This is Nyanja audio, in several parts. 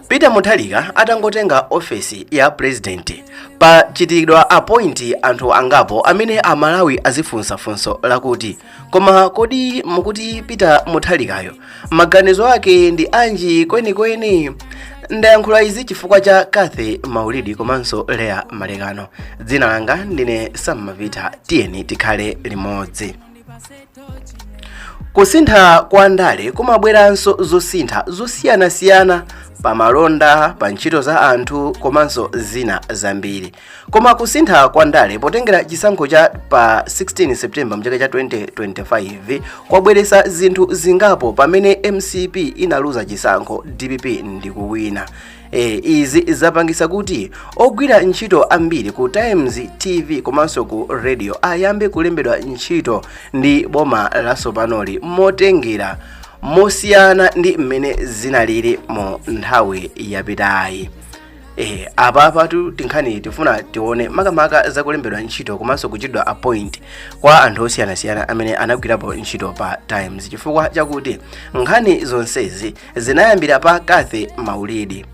peter mutharika atangotenga ofesi ya pulezidenti pachitidwa appoint anthu angapo amene amalawi azifunsa funso lakuti koma kodi mukuti peter mutharikayo maganizo ake ndi anji kwenikweni ndayankhula izi chifukwa cha cathy maulidi komanso leah malekano dzina langa ndine sammavita tiyeni tikhale limodzi Kusintha kwa ndale kumabweranso zosintha zosiyanasiyana pa malonda, pa ntchito za anthu komanso zina zambiri. Koma kusintha kwa ndale potengera chisankho cha pa 16 September mchaka cha 2025 kwabweretsa zinthu zingapo pamene mcp inaluza chisankho, dpp ndikuwina. E, izi zapangisa kuti ogwira ntchito ambiri ku Times TV komanso ku radio ayambe kulembedwa ntchito ndi boma latsopanoli motengera mosiyana ndi mmene zinalili mu nthawi yapitayi eh apa apatu tinkhani tifuna tione makamaka zakulembedwa ntchito komanso kuchitidwa appoint kwa anthu osiyanasiyana amene anagwirapo ntchito pa times chifukwa chakuti nkhani zonsezi zinayambira pa cathy maulidi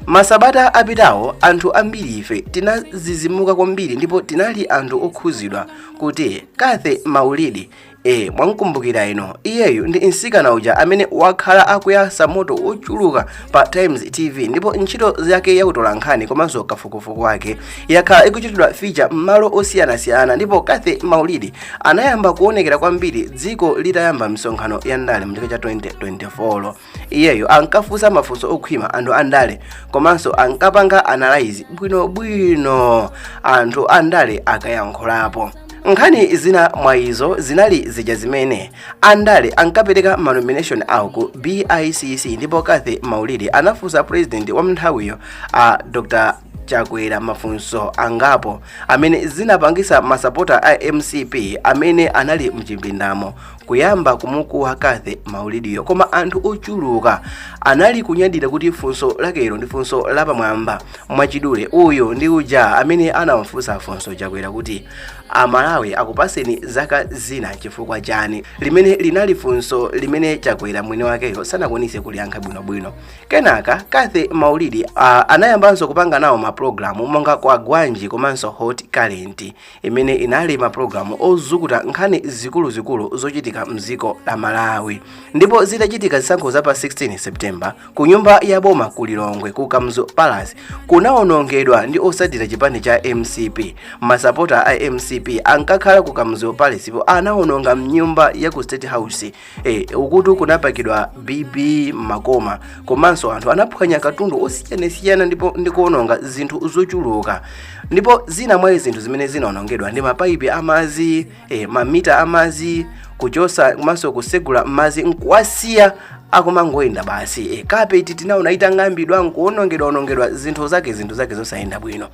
masabata apitawo anthu ambiri ife tinazizimuka kwambiri ndipo tinali anthu okhuzidwa kuti cathy maulidi e mwamkumbukira inu iyeyu ndi mtsikana uja amene wakhala akuyasa moto wochuluka pa times tv ndipo ntchito zake yakutola nkhani komanso kafukufuku wake yakhala ikuchitidwa feature m'malo osiyanasiyana ndipo cathy maulidi anayamba kuonekera kwambiri dziko litayamba misonkhano ya ndale mchaka cha 2024 iyeyo ankafunsa mafunso okhwima anthu andale komanso ankapanga analyze bwinobwino anthu andale akayankhulapo nkhani zina mwa izo zinali zija zimene andale ankapereka manomination awo ku bicc ndipo cathy maulidi anafunsa president wa mnthawiyo a dr chakwera mafunso angapo amene zinapangisa masapota a mcp amene anali mchipindamo kuyamba kumukuwiza cathy maulidiyo koma anthu ochuluka anali kunyadira kuti funso lakelo ndi funso lapamwamba mwachidule uyu ndi uja amene anawafunsa funso chakwera kuti amalawi akupaseni zaka zina chifukwa chani limene linali funso limene chakwera mwini wakeyo sanakwanise kuliyankha bwinobwino kenaka cathy maulidi a- anayambanso kupanga nawo mapulogalamu monga kwagwanji komanso hot current imene inali mapulogalamu ozukuta nkhani zikuluzikulu zochitika mdziko la malawi ndipo zitachitika zisankho za pa 16 september ku nyumba ya boma ku lilongwe ku kamuzu palace kunawonongedwa ndi otsatira chipani cha mcp masapota a mcp ankakhala ku kamuzu palace-po anawononga mnyumba ya ku state house e, ukutu kunapakidwa bibi m'makoma komanso anthu anaphwanya katundu osiyanasiyana ndipo ndikuononga zinthu zochuluka ndipo zina mwa zinthu zimene zinaonongedwa ndi mapaipi amazi e, mamita amazi kuchosa komanso kusegula mazi nkuwasiya akumangoyenda basi e, kapeti tinaona itang'ambidwa nkuonongedwaonongedwa zinthu zake zinthu zake zosayenda bwino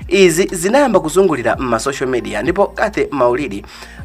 izi zinayamba kuzungulira m'ma social media ndipo cathy maulidi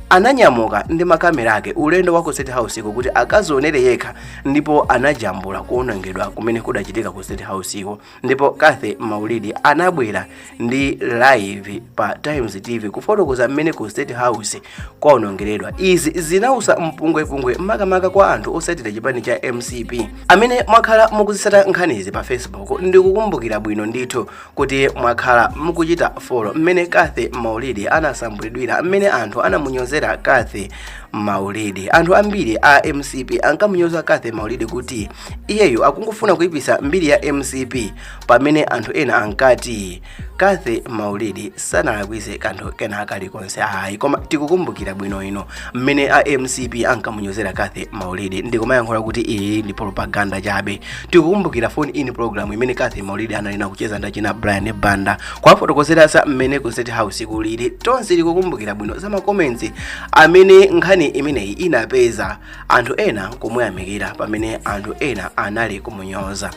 ananyamuka ndi makamera ake ulendo wa ku state house iko kuti akazionere yekha ndipo anajambula kuonongedwa kumene kudachitika ku state house iko ndipo cathy maulidi anabwera ndi live pa times tv kufotokoza mmene ku state house kwaonongeredwa izi zinausa mpungwepungwe makamaka kwa anthu osatira chipani cha mcp amene mwakhala mukuzisata nkhanizi pa facebook ndikukumbukira bwino ndithu kuti mwakhala mukuchita follow mmene cathy maulidi anasambulidwira mmene anthu anamunyozera cathy maulidi anthu ambiri a mcp ankamunyoza cathy maulidi kuti iyeyo akungofuna kuipisa mbiri ya mcp pamene anthu ena ankati cathy maulidi sanalakwise kanthu kena kalikonse ayi koma tikukumbukira bwino ino mmene a mcp ankamunyozera cathy maulidi ndikumayankhula kuti iyi ndi propaganda chabe tikukumbukira phone in program imene cathy maulidi analina kucheza ndachina brian banda kwafotokozera za mmene ku state house kulili tonse tikukumbukira bwino za ma comments amene nkhani imeneyi inapeza anthu ena kumuyamikira pamene anthu ena anali kumunyoza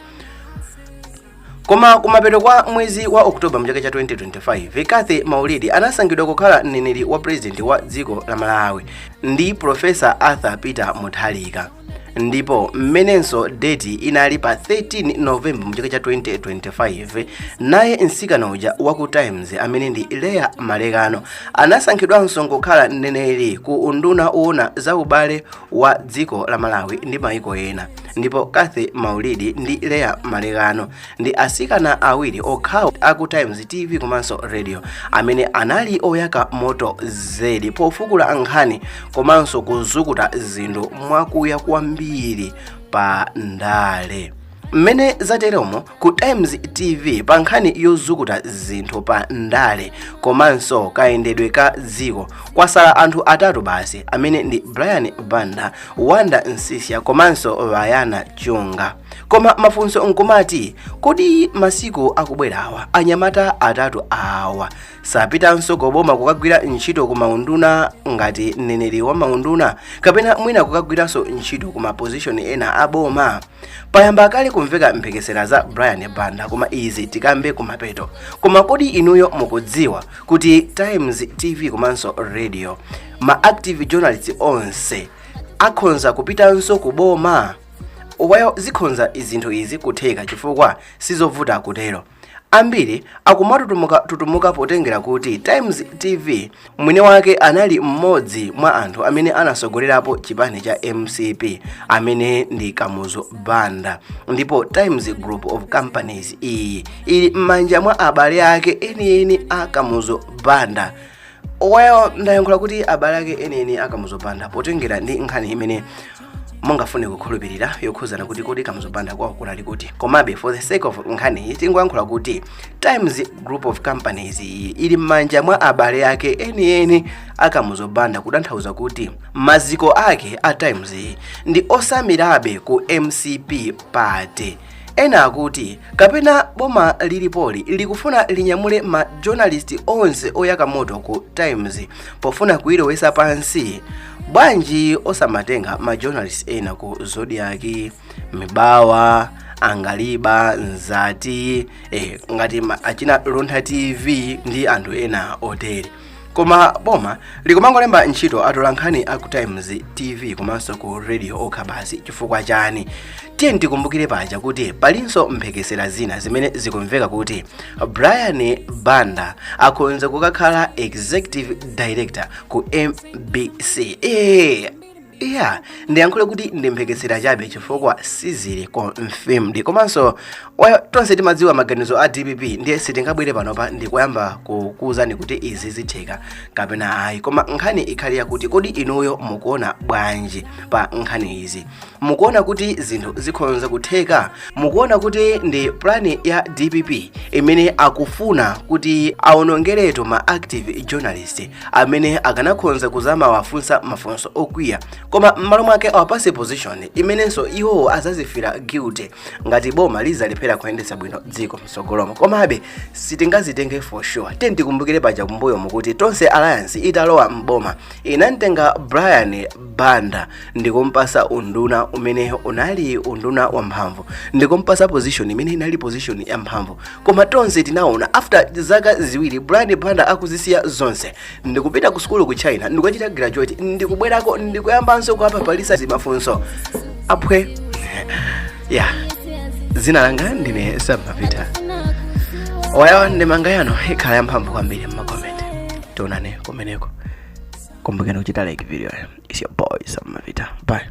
koma kumapeto kwa mwezi wa oktoba mchaka cha 2025 cathy maulidi anasankhidwa kukhala mneneri wa purezidenti wa dziko la malawi ndi profesa arthur peter mutharika ndipo mmenenso deti inali pa 13 novemba mchaka cha 2025 naye msikana uja wa ku times amene ndi leah malekano anasankhidwanso kukhala mneneri ku unduna woona za ubale wa dziko la malawi ndi maiko ena ndipo cathy maulidi ndi leah malekano ndi asikana awiri okhawo aku times tv komanso radio amene anali oyaka moto zedi pofukula nkhani komanso kuzukuta zinthu mwakuya kwambiri pa ndale mmene zateromo ku times tv pa nkhani yozukuta zinthu pa ndale komanso kayendedwe ka dziko kwasala anthu atatu basi amene ndi brian banda wonder msiska komanso vayana chunga koma mafunso nkumati kodi masiku akubwerawa anyamata atatu awa sapitanso koboma kukagwira ntchito ku maunduna ngati mneneri wa maunduna kapena mwina kukagwiranso ntchito ku mapozishoni ena aboma payamba kale kumveka mphekesera za brian banda koma izi tikambe kumapeto koma kodi inuyo mukudziwa kuti times tv komanso radio ma active journalist onse akhonza kupitanso ku boma why zikhonza zinthu izi kutheka chifukwa sizovuta kutero Ambiri akumatutumuka tutumuka potengera kuti Times TV mwini wake anali mmodzi mwa anthu amene anasogolerapo chipani cha mcp amene ndi kamuzu banda ndipo times group of companies iyi ili m'manja mwa abale ake enieni a kamuzu banda well ndayankhula kuti abale ake enieni a kamuzu banda potengera ndi nkhani imene mungafune kukhulupirira yokhuzana kuti kodi kamuzu banda kwawo kunali kuti komabe for the sake of nkhaniyi tingoyankhula kuti times group of companies iyi ili m'manja mwa abale ake enieni a kamuzu banda kutanthauza kuti maziko ake a times iyi ndi osamirabe ku mcp party ena akuti kapena boma lilipoli likufuna linyamule ma journalist onse oyaka moto ku times pofuna kuyilowesa pansi bwanji osamatenga ma journalist ena ku zodiak mibawa angaliba nzati eh, ngati ma- achina luntha tv ndi anthu ena otere koma boma likumangolemba ntchito atolankhani a ku times tv komanso ku radio okha basi chifukwa chani tiyeni tikumbukire paja kuti palinso mphekesera zina zimene zikumveka kuti brian banda akhonza kukakhala executive director ku mbc ee iya ndiyankhule kuti ndi mphekesera chabe chifukwa sizili confirmed komanso wa- tonse timadziwa maganizo a dpp ndiye sitingabwere panopa ndikuyamba kukuwuzani kuti izi zitheka kapena ayi koma nkhani ikhale yakuti kodi inuyo mukuona bwanji pa nkhani izi mukuona kuti zinthu zikhonza kutheka mukuona kuti ndi plani ya dpp imene akufuna kuti aonongeretu ma active journalist amene akanakhonza kuzamawafunsa mafunso okwiya koma m'malo mwake awapase position imenenso iwowo azazifira guilty ngati boma lizalephera kuyendetsa bwino dziko mtsogolomo komabe sitingazitenge for sure tiyeni tikumbukire paja kumbuyomu kuti tonse alliance italowa m'boma inamtenga brian banda ndikumpasa unduna umene unali unduna wamphamvu ndikumpasa position imene inali position yamphamvu koma tonse tinaona after zaka ziwiri brian banda akuzisiya zonse ndikupita ku sukulu ku china ndikukachita graduate ndikubwerako ndikuyambanso kuwaphaphalisa zimafunso apwiya zina langa ndine sam mapita wayawa ndemanga yanu ikhala yamphamvu kwambiri mmakomenti tionane kumeneko kumbukeni kuchita like videoyi is your boy sam mapita bye